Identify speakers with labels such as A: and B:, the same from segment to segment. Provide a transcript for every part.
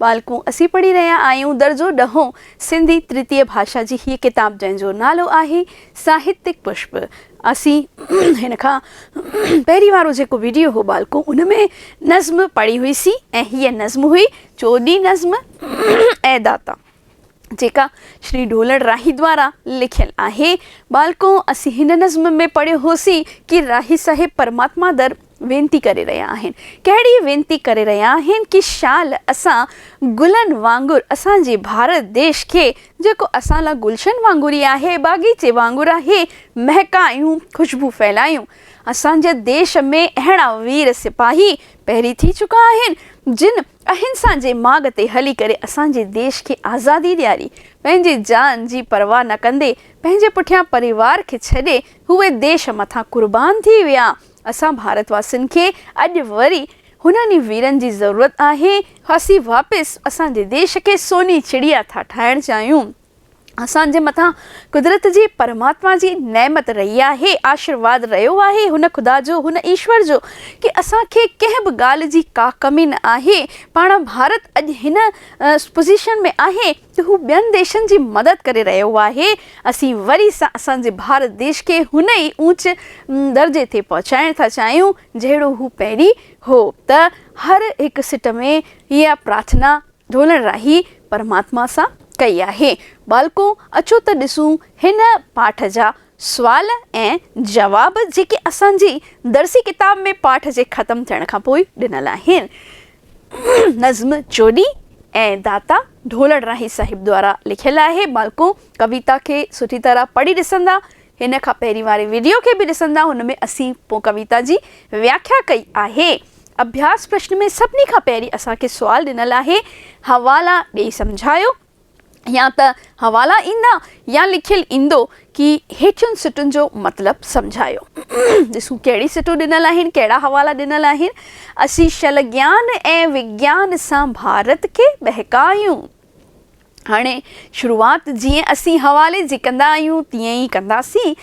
A: ٻالڪون اسين پڙهي رهيا آهيون درجو ڏهون سنڌي ترتيه ڀاشا جي هيء ڪتاب جنهن جو نالو آهي ساهتڪ پشپ اسين هن کان پهرين وارو جيڪو ويڊيو هو ٻالڪون ان ۾ نظم پڙهي هئي سين ۽ هيء نظم هئي چوڏهين نظم اي داتا جيڪا شري ڍولڙ راهي دوارا لکيل آهي ٻالڪون اسين هن نظم ۾ پڙهيو هوسين ڪي راهي صاحب پرماتما در وينتي ڪري رهيا آهن. ڪهڙي وينتي ڪري رهيا آهن ڪي شال اسان گلن وانگر اسان جي ڀارت ديش کي جيڪو اسان لا گلشن وانگر ئي آهي باغيچي وانگر آهي مهڪايون خوشبو ڦهلايون اسان جي ديش ۾ اهڙا وير سپاهي پهري ٿي چڪا آهن جن اهنسا جي ماڳ تي هلي ڪري اسان جي ديش کي آزادي ڏياري پنهنجي جان جي پرواهه نه ڪندي پنهنجي پٺيان پريوار کي ڇڏي هئي ديش مٿان قربان ٿي ويا اسان ڀارت واسين کي اڄ وري هنن ئي ويرن جي ضرورت آهي، اسين واپس اسان جي ديش کي سوني چڙيا ٿا ٺاهڻ چاهيون، اسان جي مٿان قدرت جي پرماتما جي نعمت رهي آهي، آشرواد رهيو آهي هن خدا جو، هن ايشور جو ڪي اسان کي ڪنهن به ڳالهه جي ڪا ڪمي نه آهي، پاڻ ڀارت اڄ هن پوزيشن ۾ آهي، ته هو ٻين ديشن جي مدد ڪري رهيو آهي، اسين وري سان اسان جي ڀارت ديش کي هن ئي اونچ درجي تي پهچائڻ ٿا چاهيون جهڙو هو پهرين هو ته هر هڪ سٽ ۾ اها پرارٿنا ڍولڻ راهي پرماتما سان ڪئي آهي. ٻالڪو اچو ته ڏسون هن پاٺ جا سوال ۽ جواب جيڪي اسان جي درسي ڪتاب ۾ پاٺ جي ختم ٿيڻ کان پوء ڏنل آهن. نظم چوڏهين ۽ داتا ڍولڙ راهي صاحب دوارا لکيل آهي مالڪو ڪويتا کي سٺي طرح پڙهي ڏسندا هن کان پهرين واري وڊيو کي به ڏسندا هن ۾ اسين پو ڪويتا جي وياکيا ڪئي آهي اڀياس پرشن ۾ سڀني کان پهرين اسان کي سوال ڏنل آهي حوالا ڏئي سمجهايو يا ته حوالا ايندا يا لکيل ايندو ڪي هيٺين سٽن جو مطلب سمجهايو. ڏسون ڪهڙي سٽون ڏنل آهن، ڪهڙا حوالا ڏنل آهن. اسين شل گيان ۽ وگيان سان ڀارت کي ٻهڪايون. هاڻي شروعات جيئن اسين حوالي جي ڪندا آهيون تيئن ئي ڪنداسين.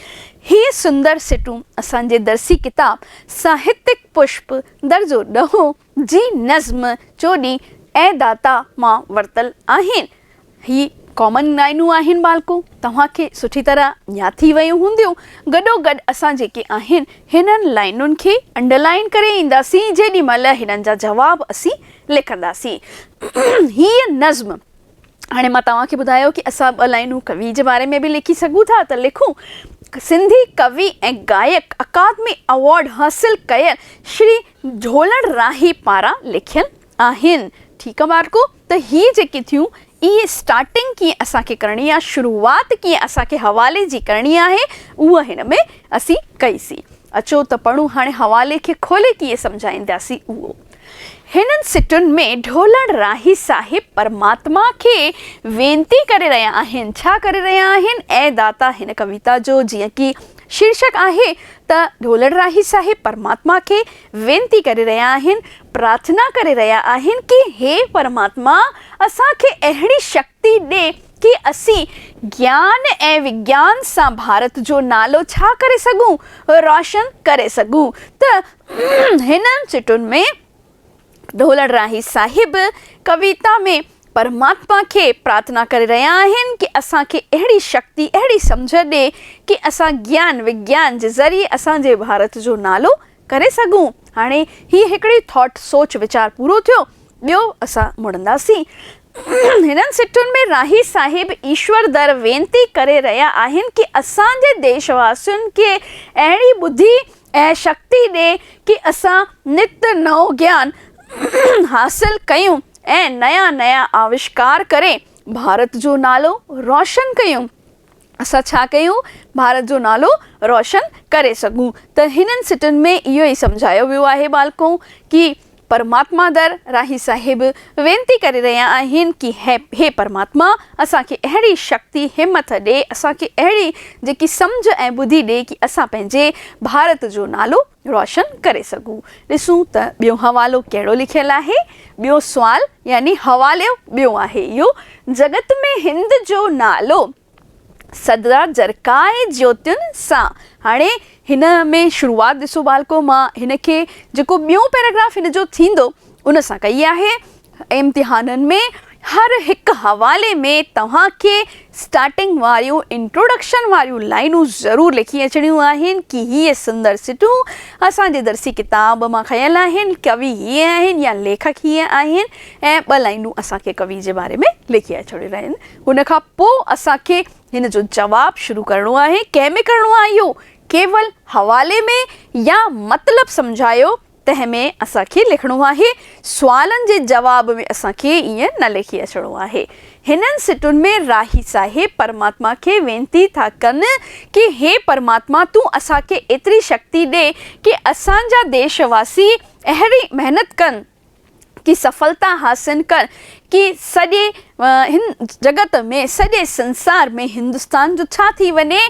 A: هي سندر سٽون اسان جي درسي ڪتاب ساهتڪ پشپ درجو ڏهون جي نظم چوڏهين اي داتا مان ورتل آهن. هي ڪامن لائينون آهن ٻالڪو، توهان کي سٺي طرح ياد ٿي ويون هونديون. گڏوگڏ اسان جيڪي آهن هنن لائينن کي انڊرلائين ڪري اينداسين جيڏي مهل هنن جا جواب اسين لکنداسين. هيء نظم هاڻي مان توهان کي ٻڌايو ڪي اسان ٻه لائينون ڪوي جي باري ۾ به لکي سگهون ٿا ته لکون. سنڌي ڪوي ۽ گائڪ اڪادمي ايوارڊ حاصل ڪيل شري جهولڙ راهي پاران لکيل آهن. ٺيڪ آ ٻارڪو ته هي جيڪي ٿيون اهي اسٽارٽنگ ڪيئن اسان کي ڪرڻي آ شروعات ڪيئن اسان کي حوالي جي ڪرڻي آهي اهو هن ۾ اسين ڪئي سين اچو ته پڙهون هاڻي حوالي کي کولي ڪيئن سمجهائينداسين اهو هنن سٽن ۾ جهولڙ راهي صاحب پرماتما کي وينتي ڪري رهيا آهن ڇا ڪري رهيا آهن اي داتا هن ڪويتا جو جيئن ڪي شيرشڪ آهي ته ڍولڙراهي صاحب پرماتما کي وينتي ڪري رهيا آهن، پرارٿنا ڪري رهيا آهن ڪي هي پرماتما اسان کي اهڙي شڪتي ڏي ڪي اسين گيان ۽ وگيان سان ڀارت جو نالو ڇا ڪري سگهون روشن ڪري سگهون ته هنن سٽن ۾ ڍولڙراهي صاحب ڪويتا ۾ پرماتما کي پرارٿنا ڪري رهيا آهن ڪي اسان کي اهڙي شڪتي اهڙي سمجهه ڏي ڪي اسان گيان وگيان جي ذريعي اسان جي ڀارت جو نالو ڪري سگهون هاڻي هي هڪڙي ٿاٽ سوچ ويچار پورو ٿيو ٻيو اسان مڙنداسين هنن سٽن ۾ راهي صاحب ايشور در وينتي ڪري رهيا آهن ڪي اسان جي ديش واسين کي اهڙي ٻڌي ۽ شڪتي ڏي ڪي اسان نت نئون گيان حاصل ڪيون ۽ نيان نيان آوشڪار ڪري ڀارت جو نالو روشن ڪيون اسان ڇا ڪيون ڀارت جو نالو روشن ڪري سگهون ته هنن سٽن ۾ اهو ئي سمجهايو ويو آهي ٻالڪو ڪي پرماتما در راهي صاحب وينتي ڪري رهيا آهن ڪي هي پرماتما اسان کي اهڙي شڪتي همٿ ڏي اسان کي اهڙي جيڪي سمجهه ۽ ٻڌي ڏي ڪي اسان پنهنجي ڀارت جو نالو روشن ڪري سگهون ڏسون ته ٻيو حوالو ڪهڙو لکيل آهي ٻيو سوال يعني حوالو ٻيو آهي اهو جڳت ۾ هند جو نالو سدرا جرڪائي جوتين سان هاڻي هن ۾ شروعات ڏسو ٻالڪو مان هن کي جيڪو ٻيون پيراگراف هن جو ٿيندو ان سان ڪئي آهي امتحانن ۾ هر هڪ حوالي ۾ توهان کي اسٽارٽنگ واريون انٽروڊڪشن واريون لائينون ضرور لکي اچڻيون آهن ڪي هي سندر سٽون اسان جي درسي ڪتاب مان کنيل آهن ڪوي هي آهن يا ليکڪ هي آهن ۽ ٻه لائينون اسان کي ڪوي جي باري ۾ لکي اچڻيون آهن ان کان پوء اسان کي هن جو جواب شروع ڪرڻو آهي، ڪنهن ۾ ڪرڻو آهي اهو ڪيول حوالي ۾ يا مطلب سمجهايو تنهن ۾ اسان کي لکڻو آهي، سوالن جي جواب ۾ اسان کي ائين نه لکي اچڻو آهي. هنن سٽن ۾ راهي صاحب پرماتما کي وينتي ٿا ڪن ڪي هي پرماتما تون اسان کي ايتري شڪتي ڏي ڪي اسان جا ديش واسي اهڙي محنت ڪن، ڪي سڦلتا حاصل ڪر ڪي سڄي هن جڳت ۾ سڄي سنسار ۾ هندستان جو ڇا ٿي وڃي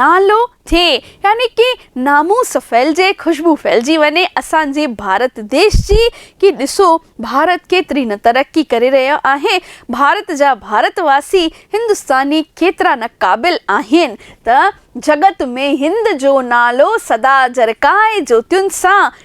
A: نالو ٿئي يعني ڪي ناموس ڦهلجي خوشبو ڦهلجي وڃي اسان جي ڀارت ديش جي ڪي ڏسو ڀارت ڪيتري نه ترقي ڪري رهيو آهي ڀارت جا ڀارت واسي هندستاني ڪيترا نه قابل آهن ته جڳت ۾ هند جو نالو سدا جرڪائي جوتين سان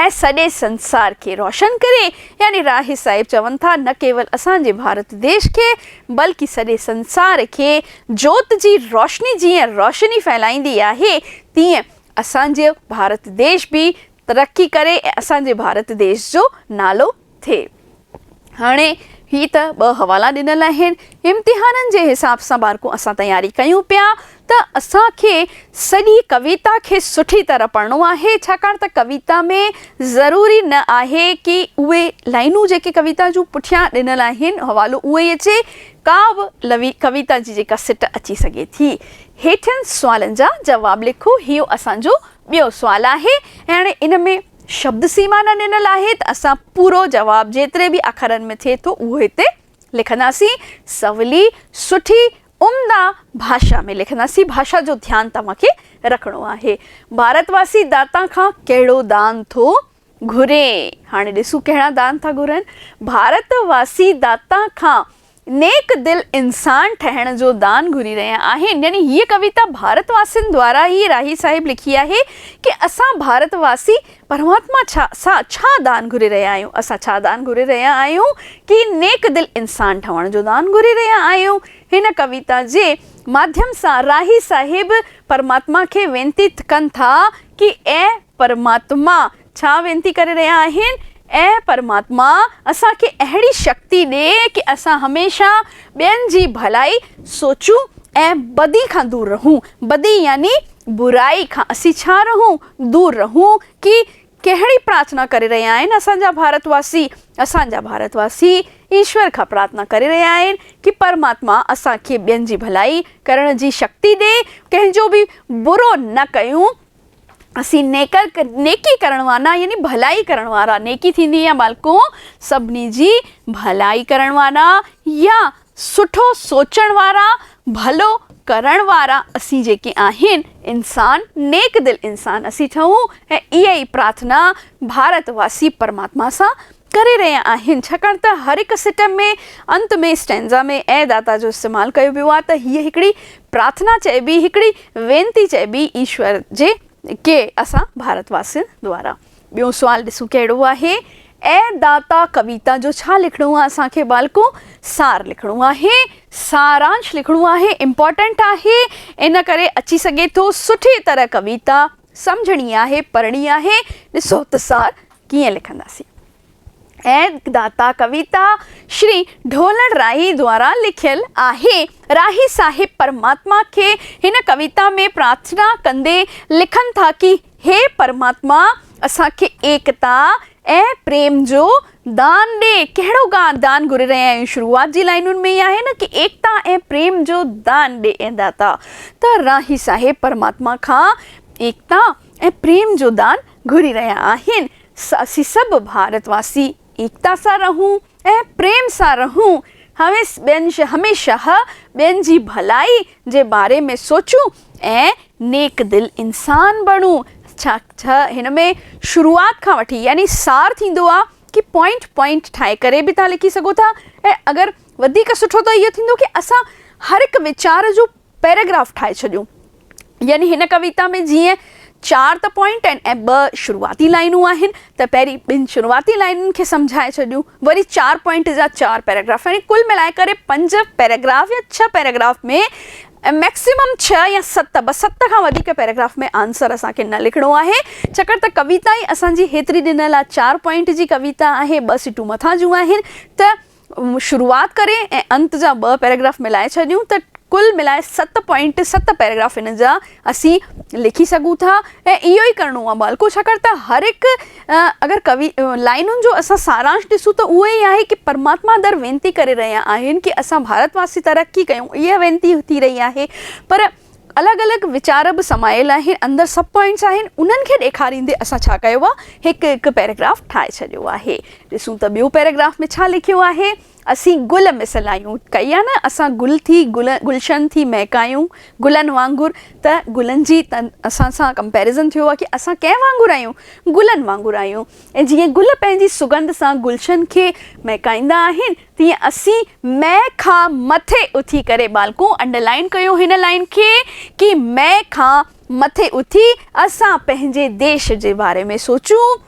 A: ۽ سڄي سنسار کي روشن ڪري يعني راهي صاحب چون ٿا نه ڪيول اسان جي ڀارت ديش کي بلڪه سڄي سنسار کي جوت جي روشني جيئن روشني ڦهلائيندي آهي تيئن اسان جو ڀارت ديش به ترقي ڪري ۽ اسان جي ڀارت ديش جو نالو ٿئي. هاڻي هي ته ٻه حوالا ڏنل آهن. امتحانن جي حساب سان بارڪون اسان تياري ڪيون پيا ته اسان کي سڄي ڪويتا کي سٺي طرح پڙهڻو آهي ڇاڪاڻ ته ڪويتا ۾ ضروري نه آهي ڪي اهي لائنون جيڪي ڪويتا جون پٺيان ڏنل آهن حوالو اهو ئي اچي ڪا به لوي ڪويتا جي جيڪا سٽ اچي سگهي ٿي. هيٺين سوالن جا جواب لکو هيو اسان جو ٻيو سوال آهي ۽ هاڻي ان ۾ شبد سيما نه ڏنل آهي ته اسان پورو جواب جيتري به اکرن ۾ ٿئي ٿو اهو هتي لکنداسين. سولي، سٺي، عمدا ڀاشا ۾ لکنداسين. ڀاشا جو ڌيان توهان کي رکڻو آهي. ڀارت واسي داتان کان ڪهڙو دان ٿو گهري؟ هاڻي ڏسون ڪهڙا دان ٿا گهرن. ڀارت واسي داتان کان نيڪ دل انسان ٺهڻ جو دان گهري رهيا آهن يعني هيء ڪويتا ڀارت واسين دوارا ئي راهي صاحب لکي آهي ڪي اسان ڀارت واسي پرماتما ڇا سان ڇا دان گهري رهيا آهيون اسان ڇا دان گهري رهيا آهيون ڪي نيڪ دل انسان ٺهڻ جو دان گهري رهيا آهيون هن ڪويتا جي ماڌيم سان راهي صاحب پرماتما کي وينتي ڪن ٿا ڪي اي پرماتما ڇا وينتي ڪري رهيا آهن؟ اي پرماتما! اسان کي اهڙي شڪتي ڏي ڪي اسان هميشه ٻين جي ڀلائي سوچون ۽ بدي کان دور رهون. بدي يعني برائي کان اسين ڇا رهون؟ دور رهون. ڪي ڪهڙي پرارٿنا ڪري رهيا آهن اسان جا ڀارت واسي؟ اسان جا ڀارت واسي ايشور کان پرارٿنا ڪري رهيا آهن ڪي پرماتما اسان کي ٻين جي ڀلائي ڪرڻ جي شڪتي ڏي، ڪنهن جو به برو نه ڪيون، اسين نيڪر نيڪي ڪرڻ وارا يعني ڀلائي ڪرڻ وارا نيڪي ٿيندي يا ٻالڪو سڀني جي ڀلائي ڪرڻ وارا يا سٺو سوچڻ وارا ڀلو ڪرڻ وارا اسين جيڪي آهن انسان نيڪ دل انسان اسين ٺهون ۽ اها ئي پرارٿنا ڀارت واسي پرماتما سان ڪري رهيا آهن ڇاڪاڻ ته هر هڪ سٽم ۾ انت ۾ اسٽينزا ۾ اي داتا جو استعمال ڪيو ويو آهي ته هيء هڪڙي پرارٿنا چئبي هڪڙي وينتي چئبي ايشور جي ڪي اسان ڀارت واسين دوارا ٻيو سوال ڏسون ڪهڙو آهي اي داتا ڪويتا جو ڇا لکڻو آهي اسان کي ٻالڪو سار لکڻو آهي سارانش لکڻو آهي امپورٽنٽ آهي ان ڪري اچي سگهي ٿو سٺي طرح ڪويتا سمجهڻي آهي پڙهڻي آهي ڏسو ته سار ڪيئن لکنداسين. ايد داتا ڪويتا شري ڍولڻ راهي دوارا لکيل آهي. راهي صاحب پرماتما کي هن ڪويتا ۾ پرارٿنا ڪندي لکن ٿا ڪي هي پرماتما اسان کي ايڪتا ۽ پريم جو دان ڏي، ڪهڙو گان دان گهري رهيا آهيون شروعات جي لائنن ۾ ئي آهي نه ڪي ايڪتا ۽ پريم جو دان ڏي اي داتا ته راهي صاحب پرماتما کان ايڪتا ۽ پريم جو دان گهري رهيا آهن ته اسين سڀ ڀارت واسي ايڪتا سان رهون ۽ پريم سان رهون هويس ٻين هميشه ٻين جي ڀلائي جي باري ۾ سوچون ۽ نيڪ دل انسان بڻون ڇا ته هن ۾ شروعات کان وٺي يعني سار ٿيندو آ ڪي پوائنٽ پوائنٽ ٺاهي ڪري به تهان لکي سگهو ٿا ۽ اگر وڌيڪ سٺو ته اهو ٿيندو ڪي اسان هر هڪ ويچار جو پيراگراف ٺاهي ڇڏيون يعني هن ڪويتا ۾ جيئن چار ته پوائنٽ آهن ۽ ٻه شروعاتي لائينون آهن ته پهرين ٻن شروعاتي لائينن کي سمجهائي ڇڏيون وري چار پوائنٽ جا چار پيراگراف يعني ڪل ملائي ڪري پنج پيراگراف يا ڇهه پيراگراف ۾ ۽ مئڪسيمم ڇهه يا ست، بس ست کان وڌيڪ پيراگراف ۾ آنسر اسان کي نه لکڻو آهي، ڇاڪاڻ ته ڪويتا ئي اسان جي هيتري ڏنل آ، چار پوائنٽ جي ڪويتا آهي، ٻه سٽون مٿان جون آهن ته شروعات ڪري ۽ انت جا ٻه پيراگراف ملائي ڇڏيون ته ڪل ملائي ست پوائنٽ، ست پيراگراف ان جا اسين لکي سگهون ٿا ۽ اهو ئي ڪرڻو آ ٻالڪو، ڇاڪاڻ ته هر هڪ. اگر ڪوي لائنن جو اسان سارانش ڏسون ته اهو ئي آهي ڪي پرماتما در وينتي ڪري رهيا آهن ڪي اسان ڀارت واسي ترقي ڪيون اها وينتي ٿي رهي آهي پر الڳ الڳ ويچار به سمايل آهن اندر سب پوائنٽس آهن انهن کي ڏيکاريندي اسان ڇا ڪيو آهي هڪ هڪ پيراگراف ٺاهي ڇڏيو آهي ڏسون ته ٻيو پيراگراف ۾ ڇا لکيو آهي. اسين گل مثل آهيون، ڪئي آهي نه اسان گل ٿي گلشن ٿي مهڪايون گلن وانگر ته گلن جي اسان سان ڪمپيرزن ٿيو آهي ڪي اسان ڪنهن وانگر آهيون گلن وانگر آهيون ۽ جيئن گل پنهنجي سگنڌ سان گلشن کي مهڪائيندا آهن تيئن اسين مئي کان مٿي اٿي ڪري ٻالڪون انڊرلائن ڪيو هن لائين کي ڪي مئي کان مٿي اٿي اسان پنهنجي ديش جي باري ۾ سوچون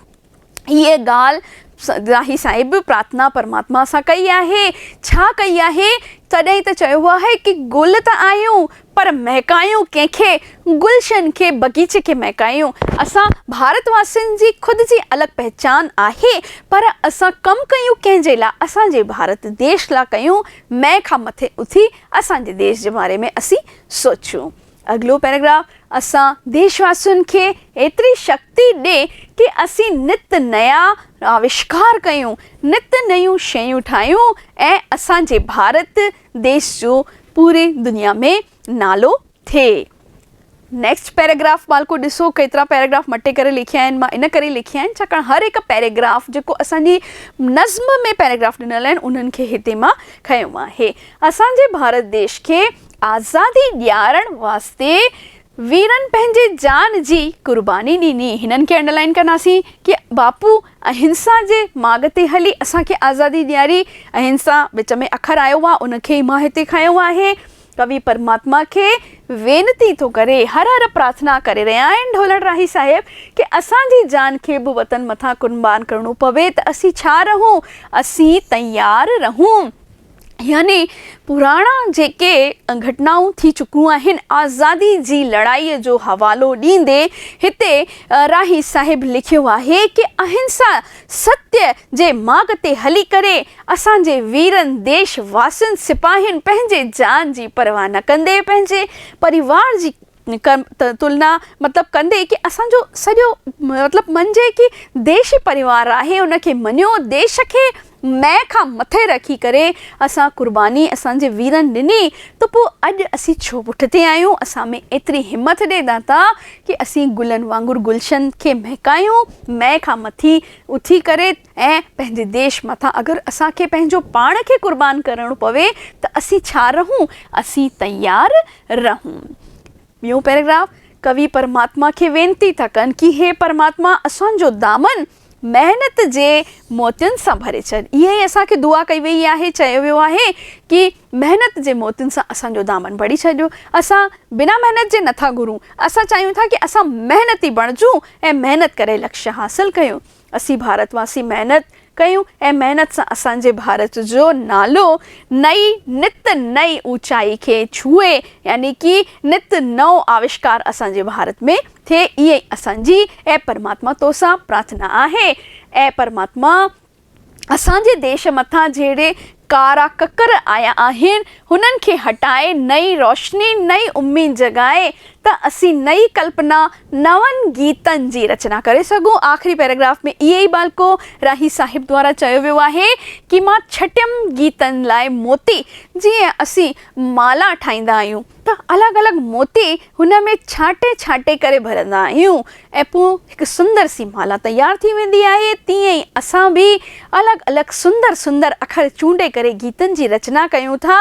A: هيء ڳالهه راهي صاحب پرارٿنا پرماتما سان ڪئي آهي. ڇا ڪئي آهي؟ تڏهن ته چيو آهي ڪي گل ته آهيون پر مهڪايون ڪنهن کي؟ گلشن کي، بغيچي کي مهڪايون. اسان ڀارت واسين جي خود جي الڳ پهچان آهي پر اسان ڪم ڪيون ڪنهن جي لاء؟ اسان جي ڀارت ديش لاء ڪيون. مئي کان مٿي اٿي اسان جي ديش جي باري ۾ اسين سوچيون. اڳلو پيراگراف اسان ديش واسين کي ايتري شڪتي ڏي ڪي اسين نت نيا آوشڪار ڪيون، نت نيون شيون ٺاهيون ۽ اسان جي ڀارت ديش جو پوري دنيا ۾ نالو ٿئي. نيڪسٽ پيراگراف ٻالڪو ڏسو ڪيترا پيراگراف مٽي ڪري لکيا آهن مان ان ڪري لکيا آهن ڇاڪاڻ هر هڪ پيراگراف جيڪو اسان جي نظم ۾ پيراگراف ڏنل آهن انهن کي هتي مان کنيو آهي. اسان جي ڀارت ديش کي آزادي ڏيارڻ واسطي ويرن پنهنجي جان جي قرباني ڏني. هنن کي انڊرلائن ڪنداسين ڪي باپو اهنسا جي ماڳ تي هلي اسان کي آزادي ڏياري. اهنسا وچ ۾ اکر آيو آهي ان کي ئي مان هتي کنيو آهي. ڪوي پرماتما کي وينتي ٿو ڪري، هر هر پرارٿنا ڪري رهيا آهن ڍولڻ راهي صاحب ڪي اسان جي جان کي به وطن مٿان قربان ڪرڻو پوي ته اسين ڇا رهون، اسين تيار رهون. يعني پراڻا جيڪي گهٽنائون ٿي چڪيون آهن، آزادي جي لڙائي جو حوالو ڏيندي هتي راهي صاحب لکيو آهي ڪي اهنسا ستيء جي ماڳ تي هلي ڪري اسان جي ويرن ديش واسين سپاهين پنهنجي جان جي پرواهه نه ڪندي پنهنجي پريوار جي تلنا مطلب ڪندي ڪي اسان جو سڄو مطلب من جي ڪي ديشي پريوار آهي ان کي مڃيو ديش کي مئن کان مٿي رکي ڪري اسان قرباني اسان جي ويرن ڏني ته پو اڄ اسين ڇو پٺتي آهيون اسان ۾ ايتري همٿ ڏي داتا ڪي اسين گلن وانگر گلشن کي مهڪايون مئن کان مٿي اٿي ڪري ۽ پنهنجي ديش مٿان اگر اسان کي پنهنجو پاڻ کي قربان ڪرڻو پوي ته اسين ڇا رهون؟ اسين تيار رهون. ٻيون پيراگراف، ڪوي پرماتما کي وينتي ٿا ڪن ڪي هي پرماتما اسان جو دامن محنت جي موتين سان ڀري ڇڏ. اها ئي اسان کي دعا ڪئي ويئي آهي، چيو ويو آهي ڪي محنت جي موتين سان اسان جو دامن ڀري ڇڏيو. اسان بنا محنت جي نٿا گهرون، اسان چاهيون ٿا ڪي اسان محنتي بڻجون ۽ محنت ڪري لڪش حاصل ڪيون. اسين ڀارت واسي محنت ڪيون ۽ محنت سان اسان جي ڀارت جو نالو نئي نت نئي اوچائي کي ڇهي يعني ڪي نت نئون آوشڪار اسان جي ڀارت ۾ ٿئي اها ئي اسان جي اي پرماتما توسان پرارٿنا آهي اي پرماتما اسان جي ديش مٿان جهڙي ڪارا ڪڪر آيا آهن، هنن کي هٽائي نئين روشني، نئين اميد جڳائي ته اسين نئين ڪلپنا، نون گيتن جي رچنا ڪري سگهون. آخري پيراگراف ۾ ائين ئي بالڪو راهي صاحب دوارا چيو ويو آهي ڪي مان ڇٽيم گيتن لاء موتي، جيئن اسين مالا ٺاهيندا آهيون. ته الڳ الڳ موتي هن ۾ ڇانٽي ڇانٽي ڪري ڀرندا آهيون ۽ پوء هڪ سندر سي مالا تيار ٿي ويندي آهي، تيئن ئي اسان به الڳ الڳ سندر سندر اکر چونڊي ڪري گيتن جي رچنا ڪيون ٿا،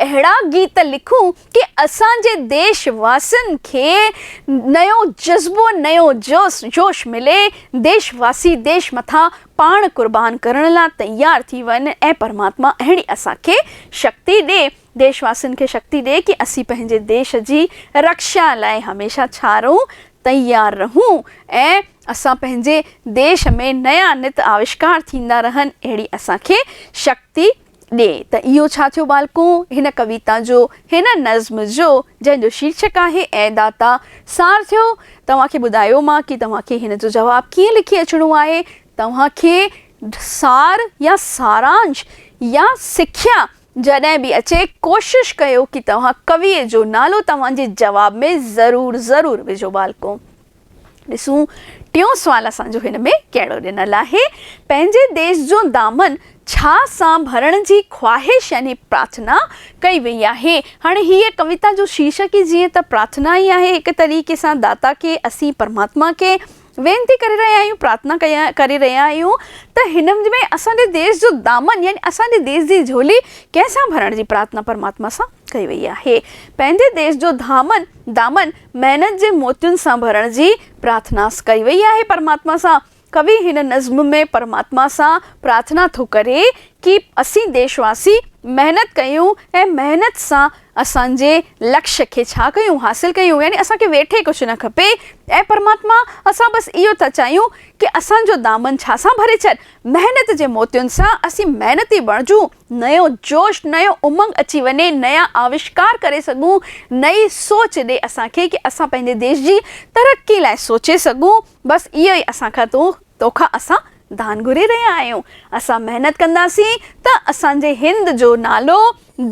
A: اهڙا گيت لکون ڪي اسان جي ديش واسين کي نيون جذبو نيون جوس جوش ملي، ديش واسي ديش مٿان پاڻ قربان ڪرڻ لا تيار ٿي وڃن ۽ پرماتما اهڙي اسان کي شڪتي ڏي. ديش واسين کي شڪتي ڏي ڪي اسين پنهنجي ديش جي رڪشا لاء هميشه ڇارون تيار رهون ۽ اسان پنهنجي ديش ۾ نيا نت آوشڪار ٿيندا رهن اهڙي اسان کي شڪتي ڏي ته اهو ڇا ٿيو ٻالڪو هن ڪويتا جو هن نظم جو جنهن جو شيرشڪ آهي اي داتا سار ٿيو توهان کي ٻڌايو مان ڪي توهان کي هن جو جواب ڪيئن لکي اچڻو آهي توهان کي سار يا سارانش يا سکيا جڏهن به اچي ڪوشش ڪيو ڪي توهان ڪويء جو نالو توهان جي جواب ۾ ضرور ضرور وجهو ٻالڪو. ڏسون ٽيون سوال اسان جو هن ۾ ڪهڙو ڏنل آهي. پنهنجي ديس جو دامن ڇا سان ڀرڻ جي خواهش يعني پرارٿنا ڪئي وئي آهي. هاڻي هيء ڪويتا جو شيرشڪ ئي جيئن ته پرارٿنا ئي آهي هڪ طريقي سان داتا کي اسين پرماتما کي. وينتي ڪري رهيا آهيون، پرارٿنا ڪري رهيا آهيون ته هن ۾ اسان جي ديس جو دامن يعني اسان جي ديس جي جهولي ڪنهن سان ڀرڻ جي پرارٿنا پرماتما سان ڪئي وئي آهي. پنهنجي ديس جو ڌامن، دامن، محنت جي موتين سان ڀرڻ جي پرارٿنا ڪئي وئي آهي پرماتما سان. ڪوي هن نظم ۾ پرماتما سان پرارٿنا ٿو ڪري ڪي اسين ديش واسي محنت ڪيون ۽ محنت سان اسان جي لڪش کي ڇا ڪيون حاصل ڪيون يعني اسان کي ويٺي ڪجهه نه کپي اي پرماتما اسان بس اهو ٿا چاهيون ڪي اسان جو دامن ڇا سان ڀري ڇڏ محنت جي موتين سان اسين محنتي بڻجون نيو جوش نيو امنگ اچي وڃي نيا آوشڪار ڪري سگهون نئي سوچ ڏي اسان کي ڪي اسان پنهنجي ديش جي ترقي لاء سوچي سگهون بس اهو ئي اسان کان تون تو کان اسان دان گهري رهيا آهيون، اسان محنت ڪنداسين ته اسان جي هند جو نالو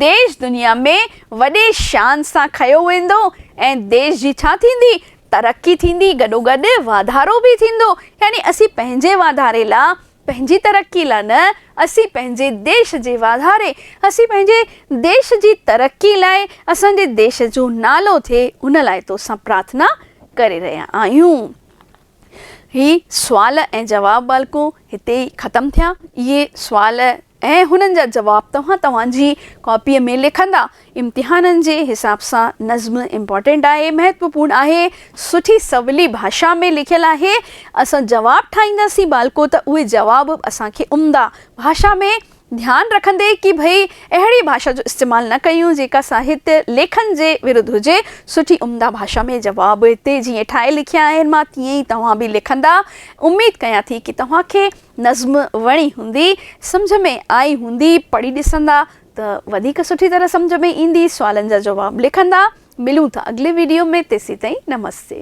A: ديش دنيا ۾ وڏي شان سان کنيو ويندو ۽ ديش جي ڇا ٿيندي؟ ترقي ٿيندي گڏوگڏ واڌارو به ٿيندو يعني اسين پنهنجي واڌاري لا، پنهنجي ترقي لا نه، اسين پنهنجي ديش جي واڌاري، اسين پنهنجي ديش جي ترقي لاء اسان جي ديش جو نالو ٿئي ان لاء تو سان پرارٿنا ڪري رهيا آهيون. هي سوال ۽ جواب بالڪون هتي ئي ختم ٿيا. اهي سوال ۽ هنن جا جواب توهان توهان جي ڪاپيء ۾ لکندا. امتحانن جي حساب سان نظم امپارٽنٽ آهي، مهتوپورن آهي، سٺي سولي ڀاشا ۾ لکيل آهي. اسان جواب ٺاهينداسين بالڪو ته اهي جواب به اسان کي عمدا ڀاشا ۾ ڌيان رکندي ڪي ڀئي اهڙي ڀاشا جو استعمال نه ڪيون جيڪا ساهتيه ليکن جي ورڌ هجي، سٺي عمده ڀاشا ۾ جواب تي جيئن ٺاهي لکيا آهن مان تيئن ئي توهان به لکندا، اميد ڪيان ٿي ڪي توهان کي نظم وڻي هوندي، سمجهه ۾ آئي هوندي، پڙهي ڏسندا ته وڌيڪ سٺي طرح سمجهه ۾ ايندي، سوالن جا جواب لکندا، ملون ٿا اڳلي ويڊيو ۾ تيسين تائين نمستي.